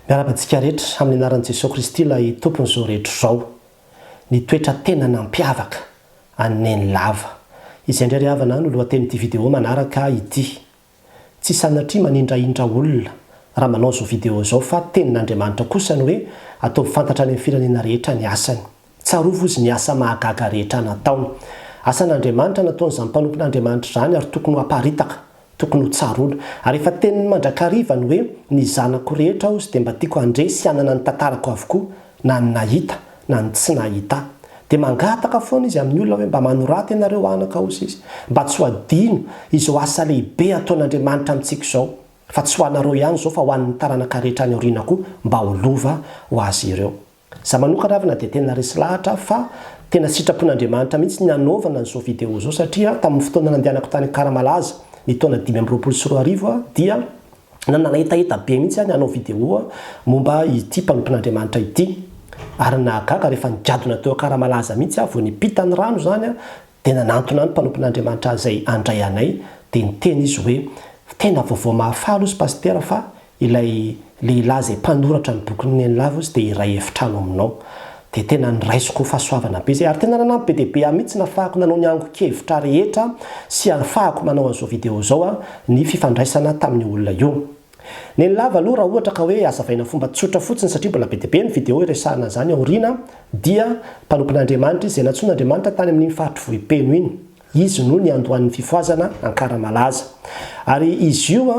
Miarahaba antsika rehetra amin'ny anaran'i Jesoa Kristy ilay Tompon'izao rehetra izao. Ny toetra tena nampiavaka an'i Neny lava. Izay indray ry havana no lohatenin'ity vidéo manaraka ity. Tsy sanatria manindrahindra olona raha manao izao vidéo izao fa tenin'Andriamanitra kosa ny hoe ataovy fantatra any amin'ny firenena rehetra ny asany. Tsarovy ozy ny asa mahagaga rehetra nataony. Asan'Andriamanitra nataon'izany mpanompon'Andriamanitra izany ary tokony ho aparitaka, tokony ho tsaroana. Ary efa teniny mandrakariva ny hoe, Ny zanako rehetra ozy dia mba tiako handre sy hanana ny tantarako avokoa, na ny nahita, na ny tsy nahita. Dia mangataka foana izy amin'ny olona hoe, Mba manorata ianareo anaka ozy izy, mba tsy ho adino izao asa lehibe ataon'Andriamanitra amintsika izao, fa tsy ho anareo ihany izao fa ho an'ny taranaka rehetra any aoriana koa, mba ho lova ho azy ireo. Za manokana avy na dia tena resy lahatra aho fa tena sitrapon'Andriamanitra mihitsy ny anaovana an'izao vidéo izao satria tamin'ny fotoana nandehanako tany Ikaramalaza ny taona dimy amby roapolo sy roa arivo dia nanana hetaheta be mihitsy aho ny hanao vidéo momba ity mpanompon'Andriamanitra ity ary nahagaga rehefa nigadona teo Ikaramalaza mihitsy aho vao nipita ny rano izany dia nanantona ny mpanompon'Andriamanitra izay handray anay dia niteny izy hoe tena vaovao mahafaly hozy Pasitera fa Ilay lehilahy izay mpanoratra ny bokin'i Neny Lavo izy dia iray efitrano aminao. Dia tena niraisiko fahasoavana be izay ary tena nanampy be dia be ahy mihitsy nafahako nanao ny angon-kevitra rehetra sy anfahako manao an'izao video izao aho ny fifandraisana tamin'io olona io. Neny Lavo aloha raha ohatra ka hoe azavaina fomba tsotra fotsiny satria mbola be dia be ny video iresahana an'izany aoriana dia mpanompon'Andriamanitra izy izay nantsoin'Andriamanitra tany amin'iny faritry Vohipeno iny. Izy no niandohan'ny fifohazana Ankaramalaza. Ary izy io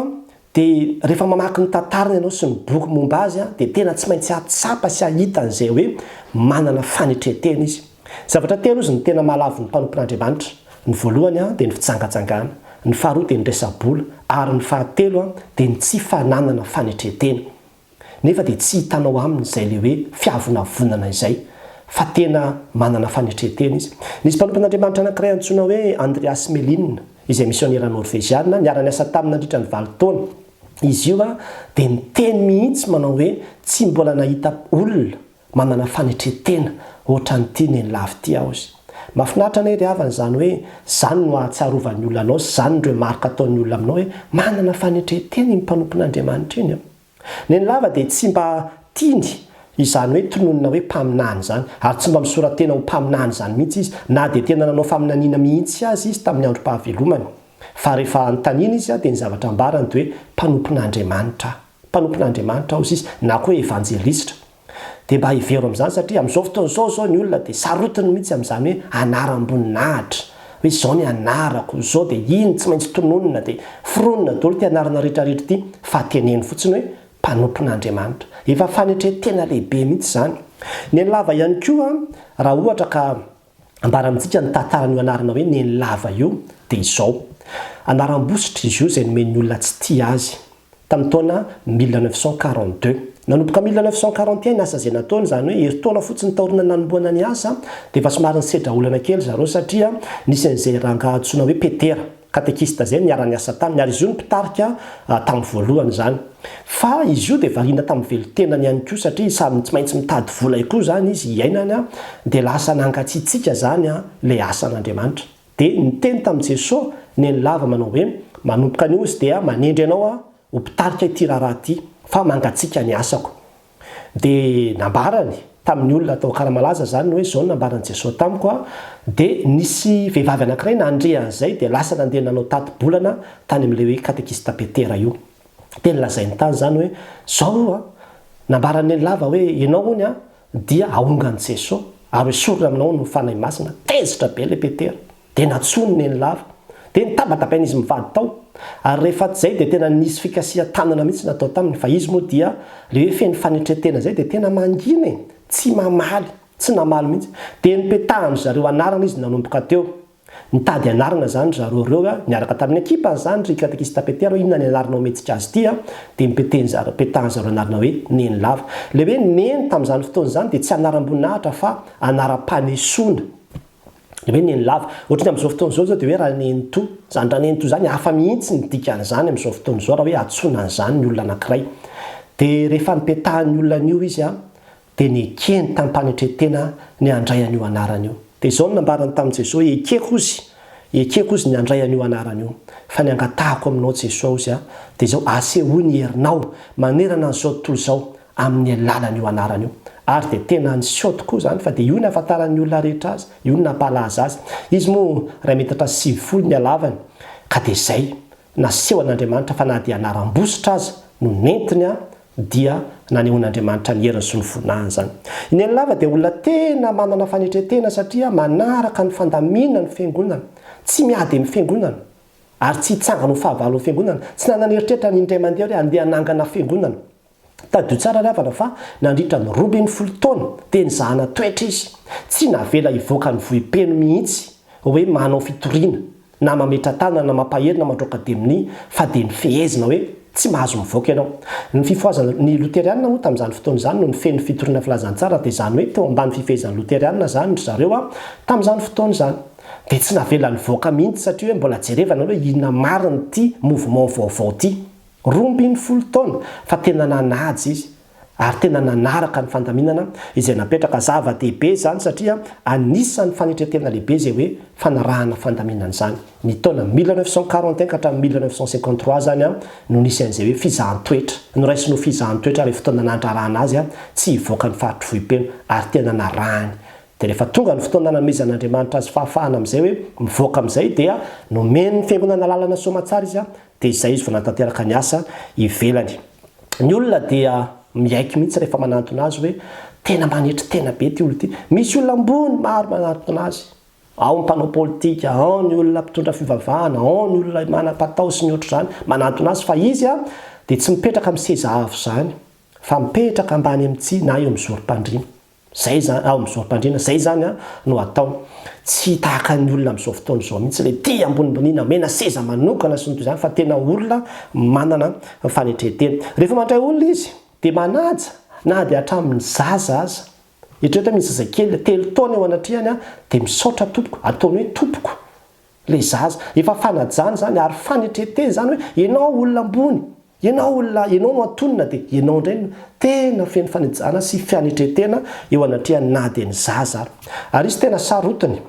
Dia rehefa mamaky ny tantarany ianao sy ny boky momba azy dia tena tsy maintsy hahatsapa sy hahita an'izay hoe manana fanetrentena izy. Zavatra telo izy no tena mahalavo ny mpanompon'Andriamanitra, ny voalohany dia ny fijangajangana, ny faharoa dia ny resa-bola ary ny fahatelo dia ny tsy fananana fanetrentena. nefa dia tsy hitanao aminy izay ilay hoe fiavonavonana izay fa tena manana fanetrentena izy. Nisy mpanompon'Andriamanitra anankiray antsoina hoe Andreas Melin, izay misionera Norveziana, niara-niasa taminy nandritra ny valo taona. Izy io dia niteny mihitsy manao hoe tsy mbola nahita olona Manana fanetren-tena ohatran'ity nenilava ity aho hozy. Mafinaritra anie ry havana izany hoe izany no ahatsiarovan'ny olona anao sy izany no remarque ataon'ny olona aminao hoe manana fanetren-tena iny mpanompon'Andriamanitra iny an! Nenilava dia tsy mba tiany izany hoe tononina hoe mpaminany izany ary tsy mba misora-tena ho mpaminany izany mihitsy izy na dia tena nanao faminaniana mihitsy aza izy tamin'ny androm-pahavelomany fa rehefa anontaniana izy dia ny zavatra ambarany dia hoe mpanompon'Andriamanitra aho. mpanompon'Andriamanitra hozy izy na koa hoe evanjelistra. Dia mba hevero amin'izany satria amin'izao fotoana izao izao ny olona dia sarotiny mihitsy amin'izany hoe anaram-boninahitra, hoe izao ny anarako, izao dia iny tsy maintsy tononina dia foronina daholo ity anarana rehetra rehetra ity fa teneno fotsiny hoe mpanompon'Andriamanitra. Efa fanetren-tena lehibe mihitsy izany. Nenilava ihany koa raha ohatra ka ambara amintsika ny tantaran'io anarana hoe Nenilava io dia izao. Anaram-bositra izy io izay nomen'ny olona tsy tia azy. tamin'ny taona mille neuf cent quarante deux. Nanomboka mille neuf cent quarante et un ny asa izay nataony, izany hoe herintaona fotsiny taoriana ny nanombohana ny asa, dia efa somary nisedra olana kely ry zareo satria nisy an'izay rangahy antsoina hoe Petera, katekista izay, niara-niasa taminy, ary izy io no mpitarika tamin'ny voalohany izany. Fa izy io dia variana tamin'ny velon-tenany ihany koa satria samy tsy maintsy mitady vola koa izany izy hiainana, dia lasa nangatsiatsiaka izany ilay asan'Andriamanitra. Dia niteny tamin'i Jeso ny an'i Lava manao hoe, Manomboka anio izy dia manendry anao aho ho mpitarika ity raharaha ity, fa mangatsiaka ny asako. Dia nambarany tamin'ny olona tao Akaramalaza izany hoe izao no nambaran'i Jeso tamiko, dia nisy vehivavy anankiray nandre an'izay dia lasa nandeha nanao tati-bolana tany amin'ilay hoe Katekista Petera io. Dia nolazainy tany izany hoe, Izao io nambaran'i Nenilava hoe, ianao hono Dia aongan'i Jeso ary hoesorina aminao ny Fanahy Masina, tezitra be le Petera, dia natsoiny neny lava. Dia nitabatabain'izy mivady tao. Ary rehefa tsy zay dia tena nisy fikasiha tanana mihitsy natao taminy fa izy moa dia le hoe feno fanetretena zay dia tena mangina e! tsy mamaly, tsy namaly mihitsy. Dia nipetahan-dry zareo anarana izy nanomboka teo. Nitady anarana zany zareo reo a, niaraka tamin'ny ekipany zany ry katekista Petero, inona ny anarana hometsika azy ity a? dia nipeteny zareo, petahan zareo anarana hoe neny lava. Le hoe neny tamin'izany fotoana izany dia tsy anaram-boninahitra fa anaram-panesoana. Le hoe neny lava. Ohatran'ny amin'izao fotoana izao zao dia hoe ranenitoa. Izany ranenitoa izany hafa mihitsy ny dikan'izany amin'izao fotoana izao raha hoe antsoina an'izany ny olona anankiray. Dia rehefa nipetahan'ny olona an'io izy a, dia nekeny tam-panetren-tena ny handray an'io anarana io. Dia izao no nambarany tamin'i Jesoa, Ekeko ozy, ekeko ozy ny handray an'io anarana io, fa ny angatahako aminao Jesoa ozy a, dia izao, asehoy ny herinao manerana an'izao tontolo izao amin'ny alalan'io anarana io. Ary dia tena niseho tokoa izany, fa dia io no nahafantaran'ny olona rehetra azy, io no nampahalaza azy. Izy moa iray metatra sy sivifolo ny halavany, ka dia izay, Nasehon'Andriamanitra fa na dia anaram-bositra aza no nentiny dia nanehoan'Andriamanitra ny heriny sy ny voninahiny izany. I Neny Lava dia olona tena manana fanetren-tena satria manaraka ny fandaminan'ny Fiangonana, tsy miady amin'ny Fiangonana ary tsy hitsangana ho fahavalo amin'ny Fiangonana, tsy nanana eritreritra ny indray mandeha hoe handeha hanangana Fiangonana. Tadidio tsara ry havana fa nandritra ny roa ambin'ny folo taona dia nizahana toetra izy, tsy navela hivoaka ny vohipeno mihitsy hoe manao fitoriana na mametra-tanana na mampahery na mandroaka deminia fa dia ny fehezina hoe tsy mahazo mivoaka ianao. Ny fifohazana ny loterianina moa tamin'izany fotoana izany no nifehy ny fitoriana filazantsara dia izany hoe teo ambany fifehezan'ny loterianina izany ry zareo tamin'izany fotoana izany dia tsy navela nivoaka mihitsy satria hoe mbola jerevana hoe inona marina ity mouvement vaovao ity. Roa ambin'ny folo taona fa tena nanaja izy ary tena nanaraka ny fandaminana izay napetraka. Zava-dehibe izany satria anisan'ny fanetren-tena lehibe izay hoe fanarahana fandaminana izany. Ny taona mille neuf cent quarante et un ka hatramin'ny mille neuf cent cinquante trois izany no nisy an'izay hoe fizahan-toetra. Noraisiny ho fizahan-toetra ilay fotoana nandrarahana azy tsy hivoaka ny faritry Vohipeno ary tena narahiny. Dia rehefa tonga ny fotoana nanomezan'Andriamanitra azy fahafahana amin'izay hoe mivoaka amin'izay dia nomen'ny Fiangonana alalana soamantsara izy Dia izay izy vao nanatanteraka ny asa ivelany. Ny olona dia miaiky mihitsy rehefa manantona azy hoe tena manetry tena be ity olona ity. Misy olona ambony maro manantona azy. Ao ny mpanao politika, ao ny olona mpitondra fivavahana, ao ny olona manam-patao sy ny ohatr'izany manantona azy fa izy dia tsy mipetraka amin'ny seza avo izany fa mipetraka ambany amin'ny tsihy na eo amin'ny zorom-pandriana. Zay zany ao amin'ny zorim-pandriana zay zany no atao. Tsy tahaka ny olona amin'izao fotoana izao mihitsy le tia ambonimboniana omena seza manokana sy ny toy izany fa tena olona manana fanetren-tena. Rehefa mandray olona izy dia manaja na dia hatramin'ny zaza aza. Eritrereto hoe misy zazakely telo taona eo anatrehany dia misaotra tompoko, ataony hoe tompoko. Ilay zaza. Efa fanajana izany ary fanetretena izany hoe ianao olona ambony, ianao olona, ianao no antonona dia ianao indray no tena feno fanajana sy fianetretena eo anatrehany na dia ny zaza ary. Ary izy tena sarotiny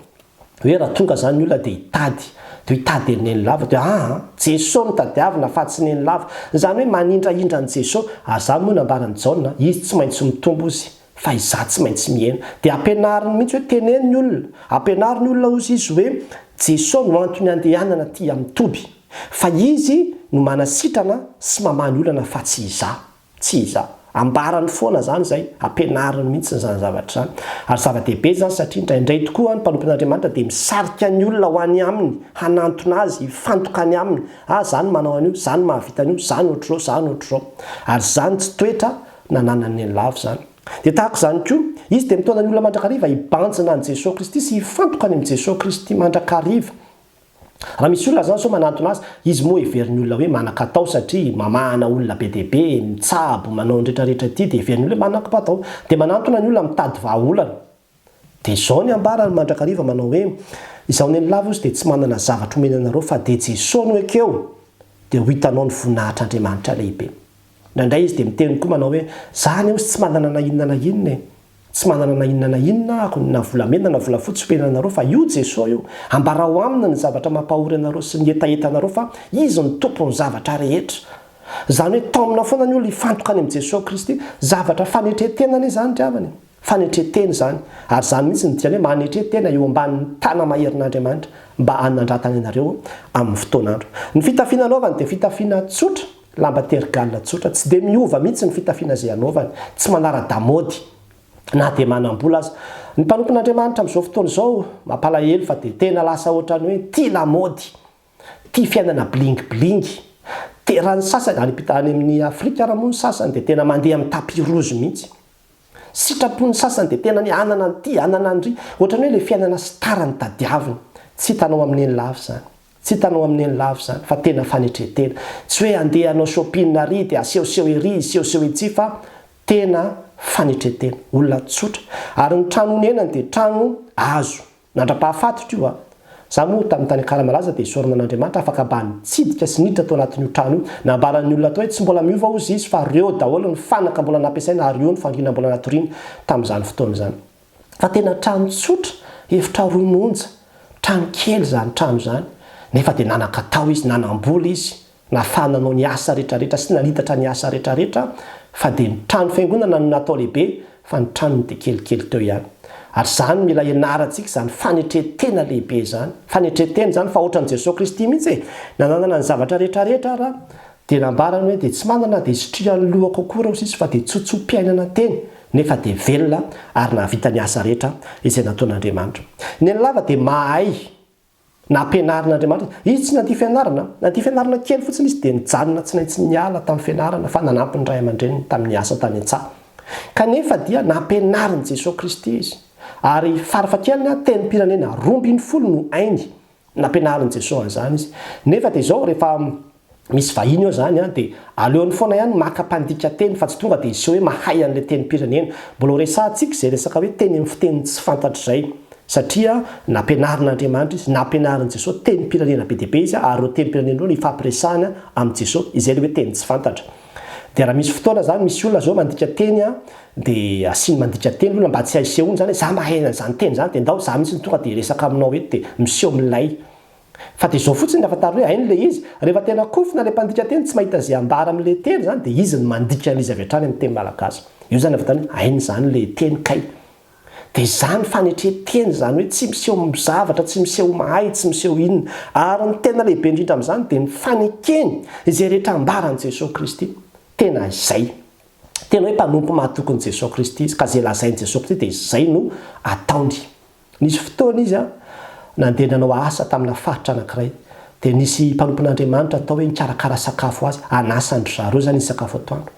hoe raha tonga izany ny olona dia hitady, dia hitady an'i Nenilava dia aa, Jesoa no tadiavina fa tsy Nenilava. Izany hoe manindrahindra an'i Jesoa. Ary izany moa nambaran'i Jaona, izy tsy maintsy mitombo hozy. Fa izaho tsy maintsy mihena. Dia ampianariny mihitsy hoe teneno ny olona. Ampianaro ny olona hozy izy hoe Jesoa no antony andehanana aty amin'ny toby. Fa Izy no manasitrana sy mamaha ny olana fa tsy izaho. Tsy izaho. Ambarany foana izany izay. Ampianariny mihitsy izany zavatra izany. Ary zava-dehibe izany satria indraindray tokoa ny mpanompon'Andriamanitra dia misarika ny olona ho any Aminy, hanantona Azy, hifantoka any Aminy. Ah, izaho no manao an'io, izaho no mahavita an'io, izaho no ohatr'izao, izaho no ohatr'izao. Ary izany tsy toetra nananany ny lavo izany. Dia tahaka izany koa, izy dia mitondra ny olona mandrakariva hibanjina an'i Jesoa Kristy sy hifantoka any amin'i Jesoa Kristy mandrakariva. Raha misy olona izany sao manantona azy, izy moa heverin'ny olona hoe manan-katao satria mamahana olona be dia be, mitsabo, manao ny rehetra rehetra ity dia heverin'ny olona hoe manan-katao. Dia manantona ny olona mitady vahaolana. Dia izao ny ambarany mandrakariva manao hoe, Izaho neny lava ozy dia tsy manana zavatra homena anareo fa dia Jeso no ekeo dia ho hitanao ny voninahitr'Andriamanitra lehibe. Indraindray izy dia miteny koa manao hoe, Za anie ozy tsy manana na inona na inona e. Tsy manana na inona na inona ako, na volamena na volafotsy homena anareo fa io Jeso io, ambarao aminy ny zavatra mampahory anareo sy ny hetaheta anareo fa izy no tompon'ny zavatra rehetra. Izany hoe taomina foana ny olona hifantoka any amin'i Jeso Kristy, zavatra fanetren-tenany izany ry havana e. Fanetren-tena izany, ary izany mihitsy no dikan'ny hoe manetre tena eo ambanin'ny tana-maherin'Andriamanitra mba hanandratany anareo amin'ny fotoan'andro. Ny fitafiana anaovany dia fitafiana tsotra, lamba tergaly tsotra, tsy dia miova mihitsy ny fitafiana izay anaovany, tsy manara-damaody na dia manam-bola aza. Ny mpanompon'Andriamanitra amin'izao fotoana izao, mampalahelo fa dia tena lasa ohatran'ny hoe tia lamaody. Tia fiainana bling bling. Raha ny sasany, any amin'i Afrika ary moa ny sasany dia tena mandeha amin'ny tapis rouge mihitsy. Sitrapon'ny sasany dia tena ny hanana an'ity, hanana an'ry. Ohatran'ny hoe ilay fiainana star no tadiaviny. Tsy hitanao amin'ny eny lava izany. Tsy hitanao amin'ny eny lava izany fa tena fanetren-tena. Tsy hoe handeha hanao shopping ary dia asehoseho ery, hisehoseho etsy fa tena fanetren-tena. Olona tsotra. Ary ny trano onenany dia trano azo. Nandra-pahafaty ko a! Za moa tamin'ny tany Akara-malaza dia sorona an'Andriamanitra afaka mba nitsidika sy niditra tao anatin'io trano io. Nambaran'ny olona tao hoe tsy mbola miova hozy izy fa reo daholo ny fanaka mbola nampiasaina ary io ny fangina mbola natoriany tamin'izany fotoana izany. Fa tena trano tsotra, efitra roa monja. Trano kely izany trano izany. Nefa dia nanakatao izy, nanam-bola izy. Na fa nanao ny asa retraretra sy nalitatra ny asa retraretra fa dia ny trano fiangonana no natao lehibe fa ny tranony dia kelikely teo ihany. Ary izany no mila hianarantsika izany fanetren-tena lehibe izany. Fanetren-tena izany fa ohatran'i Jesoa Kristy mihitsy e! Nananana ny zavatra retraretra Ra dia nambarany hoe dia tsy manana dia sitrihan'ny lohako akory aho sisa fa dia tsotsom-piainana teny nefa dia velona ary nahavita ny asa rehetra izay nataon'Andriamanitra. Ny an'i Lava dia mahay Nampianarin'Andriamanitra izy. Izy tsy nandia fianarana. Nandia fianarana kely fotsiny izy dia nijanona tsy naitsy niala tamin'ny fianarana fa nanampy ny ray aman-dreniny tamin'ny asa tany an-tsaha. Kanefa dia nampianarin'i Jesoa Kristy izy. Ary farafahakeliny tenim-pirenena roa ambin'ny folo no hainy. Nampianarin'i Jesoa an'izany izy. Nefa dia izao rehefa misy vahiny eo zany an, dia aleony foana ihany maka mpandika teny fa tsy tonga dia hiseho hoe mahay an'ilay tenim-pirenena. Mbola ho resahantsika izay resaka hoe teny amin'ny fiteny tsy fantatra izay. Satria nampianarin'Andriamanitra izy, nampianarin'i Jesoa tenim-pirenena be dia be izy ary ireo tenim-pirenena ireo no ifampiresahana amin'i Jesoa, izay ilay hoe teny tsy fantatra. Dia raha misy fotoana zany misy olona zao mandika teny an, dia asiany mandika teny olona mba tsy haisehoany zany hoe za mahay an'izany teny izany dia ndao za mihitsy no tonga dia hiresaka aminao eto dia miseho milay. Fa dia izao fotsiny rehefa tary hoe hainy ilay izy, rehefa tena kofona ilay mpandika teny tsy mahita izay ambara amin'ilay teny izany dia izy no mandika an'izy avy hatrany amin'ny teny malagasy. Io izany avy hatrany hoe hainy izany ilay teny kay. Dia izany fanetren-teny izany hoe tsy miseho zavatra, tsy miseho mahay, tsy miseho inona. Ary ny tena lehibe indrindra amin'izany dia ny fanekeny izay rehetra ambaran'i Jesoa Kristy. Tena izay. Tena hoe mpanompo mahatokin'i Jesoa Kristy izy ka izay lazain'i Jesoa Kristy dia izay no ataony. Nisy fotoana izy nandeha nanao asa tamina faritra anankiray, dia nisy mpanompon'Andriamanitra natao hoe hikarakara sakafo ho azy, hanasandry zareo izany izy sakafo atoandro.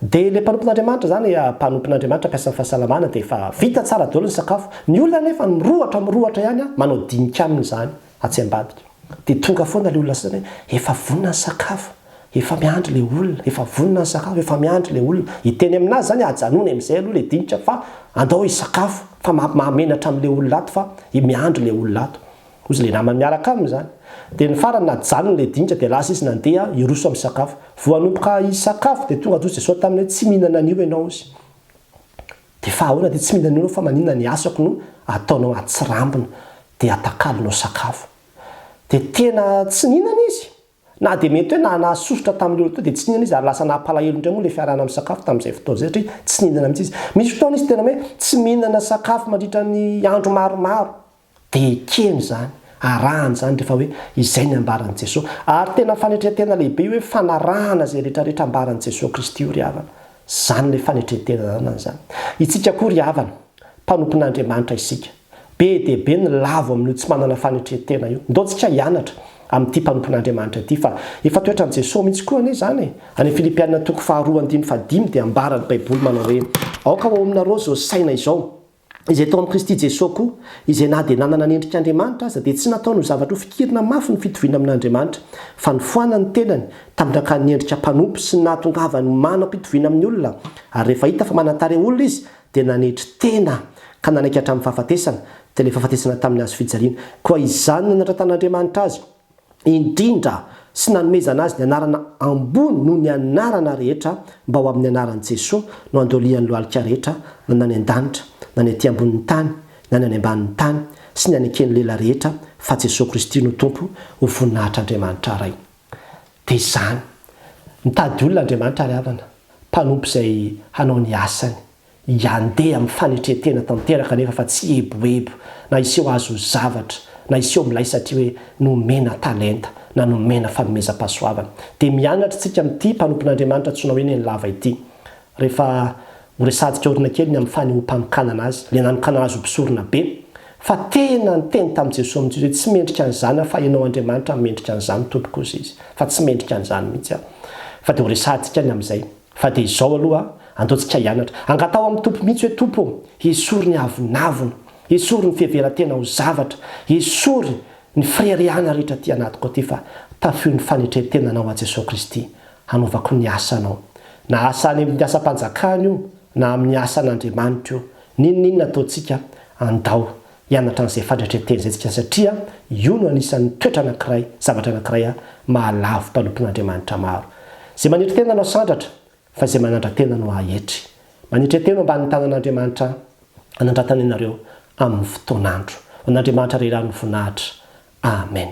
Dia ilay mpanompon'Andriamanitra izany, mpanompon'Andriamanitra mpiasan'ny fahasalamana, dia efa vita tsara daholo ny sakafo. Ny olona anefa mirohotra mirohotra ihany manao dinika aminy izany. atsy ambadika dia tonga foana le olona sasany hoe efa vonona ny sakafo efa miandry le olona efa vonona ny sakafo efa miandry le olona hiteny aminazy zany ajanony amizay aloha le dinika fa andao hisakafo fa mahamenatra amle olona ato fa miandry le olona ato ozy le namany miaraka aminy zany dia ny farany najanony le dinika dia lasa izy nandeha hiroso am sakafo voanomboka hisakafo dia tonga ozy dia sao taminy hoe tsy mihinana anio enao ozy Dia fa ahoana dia tsy mila an'io ianao fa maninona ny asako no ataonao atsirambina dia atakalonao sakafo. Dia tena tsy nihinana izy. Na dia mety hoe na nahasosotra tamin'ilay olona teo dia tsy nihinana izy ary lasa naha-palahelo indray moa ilay fiarahana misakafo tamin'izay fotoana izay satria tsy nihinana mihitsy izy. Misy fotoana izy tena hoe tsy mihinana sakafo mandritra ny andro maromaro. Dia ekeny izany, arahana izany rehefa hoe izay ny ambaran'i Jesoa. Ary tena fanetren-tena lehibe io hoe fanarahana izay rehetrarehetra ambaran'i Jesoa Kristy io ry havana. Izany ilay fanetren-tena ananany izany. Isika koa ry havana, mpanompon'Andriamanitra isika. Be dia be ny lavo amin'io tsy manana fanetren-tena io. Ndao tsika hianatra amin'ity mpanompon'Andriamanitra ity fa efa toetran'i Jesoa mihitsy koa anie izany e! Any Filipiana toko faharoa andininy fahadimy dia ambaran'ny Baiboly manao hoe, Aoka ho ao aminareo izao saina izao. Izay tao amin'i Kristy Jesoa koa, izay na dia nanana ny endrik'Andriamanitra aza, dia tsy nataony ho zavatra hofikirina mafy ny fitoviana amin'Andriamanitra, fa nifoanany ny tenany, tamindrakan'ny endrika mpanompo, sy ny nahatongavany ho manam-pitoviana amin'ny olona, ary rehefa hita fa manan-tarehy olona izy, dia nanetry tena, ka nanaiky hatramin'ny fahafatesana, dia ilay fahafatesana tamin'ny hazo fijaliana. Koa izany nanandratan'Andriamanitra azy. indrindra sy nanomezana azy ny anarana ambony noho ny anarana rehetra mba ho amin'ny anaran'i Jesoa no andolian'ny lohalika rehetra na ny any an-danitra na ny aty ambonin'ny tany na ny any ambanin'ny tany sy ny any eken'ny lela rehetra fa Jesoa Kristy no Tompo ho voninahitr'Andriamanitra Ray dia izany mitady olona Andriamanitra ry havana mpanompo izay hanao ny asany Hiandeha amin'ny fanetren-tena tanteraka anefa fa tsy eboebo na hiseho azo zavatra na hiseho milay satria hoe nomena talenta na nomena fanomezam-pahasoavana. Dia mianatra isika amin'ity mpanompon'Andriamanitra antsoina hoe Nenilava ity. Rehefa ho resadika aorina kely ny amin'ny fanehoam-panokanana azy, ilay nanokana azy ho mpisorona be, fa tena niteny tamin'i Jesoa amin'izao izy hoe tsy mendrika an'izany aho fa ianao Andriamanitra no mendrika an'izany tompoko hozy izy, fa tsy mendrika an'izany mihitsy aho. Fa dia ho resadika ny amin'izay. Fa dia izao aloha andaontsika hianatra. Angataho amin'ny Tompo mihitsy hoe, Tompo ô, esory ny avonavona, esory ny fiheveran-tena ho zavatra, esory ny fireharehana rehetra aty anatiko aty fa tafio ny fanetren-tena Anao aho Jesoa Kristy, hanaovako ny asanao. Na asa any amin'ny asam-panjakana io na amin'ny asan'Andriamanitra io, n'inon'inona ataontsika, andao Hianatra an'izay fadratry ny tezezika satria io no anisan'ny toetra anankiray, zavatra anankiray mahalavo mpanompon'Andriamanitra maro. Izay manetry tena no asandratra, fa izay manandra-tena no aetry. Manetre tena eo ambanin'ny tanan'Andriamanitra anandratana ianareo amin'ny fotoan'andro. Ho an'Andriamanitra Ray Rano ny voninahitra. Amen.